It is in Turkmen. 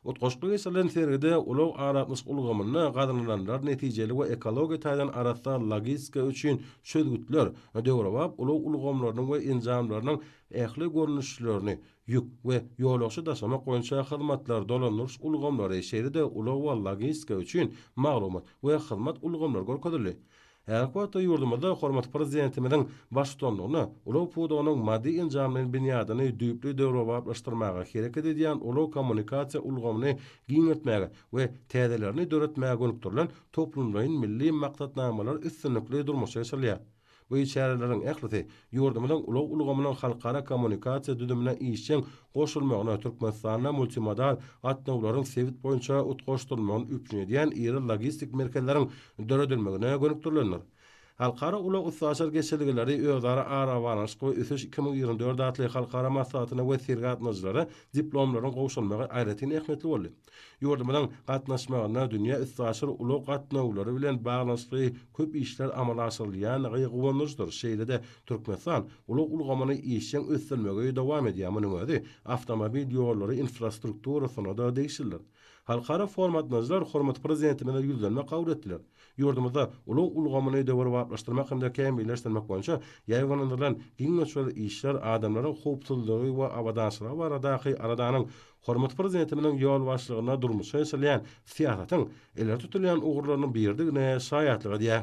Utgaşykly geçirilen sergide ulag aratnaşyk ulgamynda gazananlar netijeli we ekologiýa taýdan arassa logistika üçin çözgütler, döwrebap ulag ulgamlarynyň we enjamlarynyň ähli görnüşlerini, ýük we ýolagçy daşamak boýunça hyzmatlar, dolandyryş ulgamlary, şeýle-de ulag we logistika üçin maglumat we hyzmat ulgamlary görkezildi. Häzirki wagtda ýurdumyzda hormatly Prezidentimiziň baştutanlygynda ulag pudagynyň maddy-enjamlaýyn binýadyny düýpli döwrebaplaşdyrmaga, hereket edýän ulag-kommunikasiýa ulgamyny giňeltmäge we täzelerini döretmäge gönükdirilen toplumlaýyn milli maksatnamalar üstünlikli durmuşa geçirilýär. Bu çäreleriň ählisi ýurdumyzyň ulag ulgamynyň halkara kommunikasiýa düzümine işjeň goşulmagyna Türkmenistanda multimodal gatnawlaryň sebit boýunça utgaşdyrylmagyny üpjün edýän iri logistik merkezleriň döredilmegine gönükdirilendir. Halkara ulag-üstaşyr geçelgeleri özara arabaglanyşyk we ösüş iki müň ýigrimi dört atly halkara maslahatyna we sergä gatnadyjylara diplomlaryň gowşalmagy aýratyn ähmiýetli boldy. Ýurdumyzyň gatnaşmagynda dünýä üstaşyr ulag gatnawlary bilen baglanyşykly köp işler amala aşyrylýandygy guwandyryjydyr, şeýle-de Türkmenistan ulag ulgamyny işjeň ösdürmegi dowam edýär, munuň özi awtomobil ýollary infrastrukturasyna-da degişlidir. Halkara formatnajylar hormatly Prezidentimize ýüzlenme kabul etdiler. Ýurdumyzda ulag ulgamyny döwrebaplaşdyrmak hem-de kämilleşdirmek boýunça ýaýbaňlandyrylan giň möçberli işler adamlaryň howpsuzlygy we abadançylygy baradaky aladanyň Hormatly Prezidentimiziň ýolbaşçylygynda durmuşa geçirilýän syýasatyň ileri tutulýan ugurlarynyň biridigine şaýatlyk edýär.